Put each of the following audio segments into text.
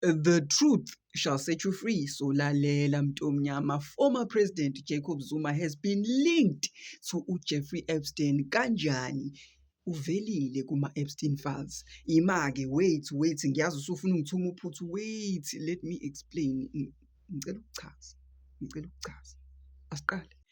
The truth shall set you free. So lalela Mtomnyama, former President Jacob Zuma has been linked to uJeffrey Epstein kanjani? uvelile kuma-Epstein files. Ima-ke wait wait ngiyazi usufuna ungithuma uphuthu wait let me explain ngicela ukuchaza ngicela ukuchaza asiqale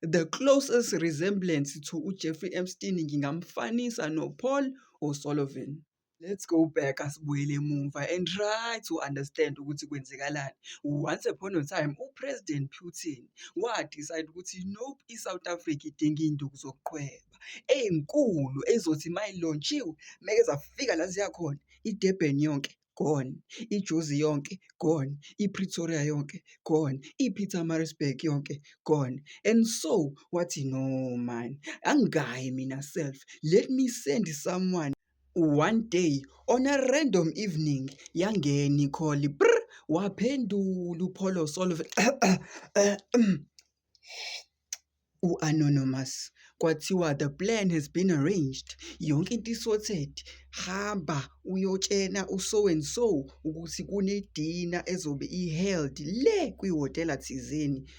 The closest resemblance to uJeffrey Epstein ngingamfanisa noPaul O'Sullivan. Let's go back asibuyele emuva and try to understand ukuthi kwenzekalani. Once upon a time uPresident Putin wadecide ukuthi nope iSouth Africa idinga iy'nduku zokuqhweba ey'nkulu ey'zothi uma ilontshiwe meke zafika la ziya khona iDurban yonke gone, iJozi yonke gone, iPretoria yonke gone, iPietermaritzburg yonke gone and so wathi no man angayi mina self let me send someone one day on a random evening yangena i-call waphendula uPholo Solve u-Anonymous kwathiwa the plan has been arranged yonke into isorted hamba uyotshena uso and so ukuthi kunedina ezobe i-held le kwihhotela thizeni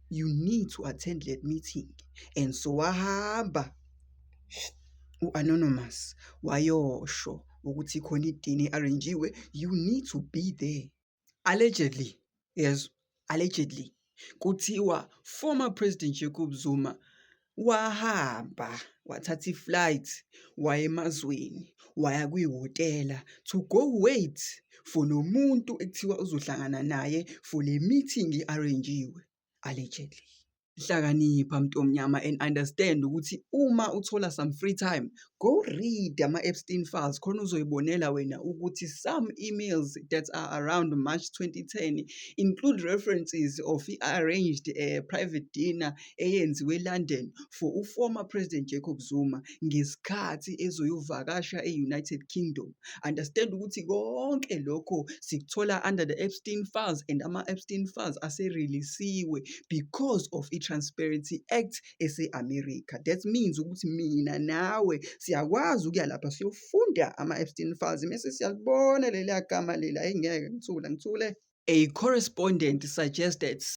you need to attend that meeting and so wahamba u-anonymous wayosho ukuthi khona idini i-arrangiwe you need to be there allegedly yes allegedly kuthiwa former president Jacob Zuma wahamba wathatha i-flight waya emazweni waya kwihhotela to go wait for lo muntu ekuthiwa uzohlangana naye for le meeting i-arrange-iwe allegedly. Hlakanipha mntu omnyama and understand ukuthi uma uthola some free time go read ama-Epstein files khona uzoyibonela wena ukuthi some emails that are around March 2010 include references of i-arranged uh, private dinner eyenziwe eLondon for uformer President Jacob Zuma ngesikhathi ezoyovakasha e-United Kingdom. Understand ukuthi konke lokho sikuthola under the Epstein Files and ama-Epstein Files aserelisiwe because of i-Transparency Act ese-America. That means ukuthi mina nawe siyakwazi ukuya lapha siyofunda ama-Epstein Files mese siyalibona leliya gama leli ayingeke ngithule ngithule. A correspondent suggested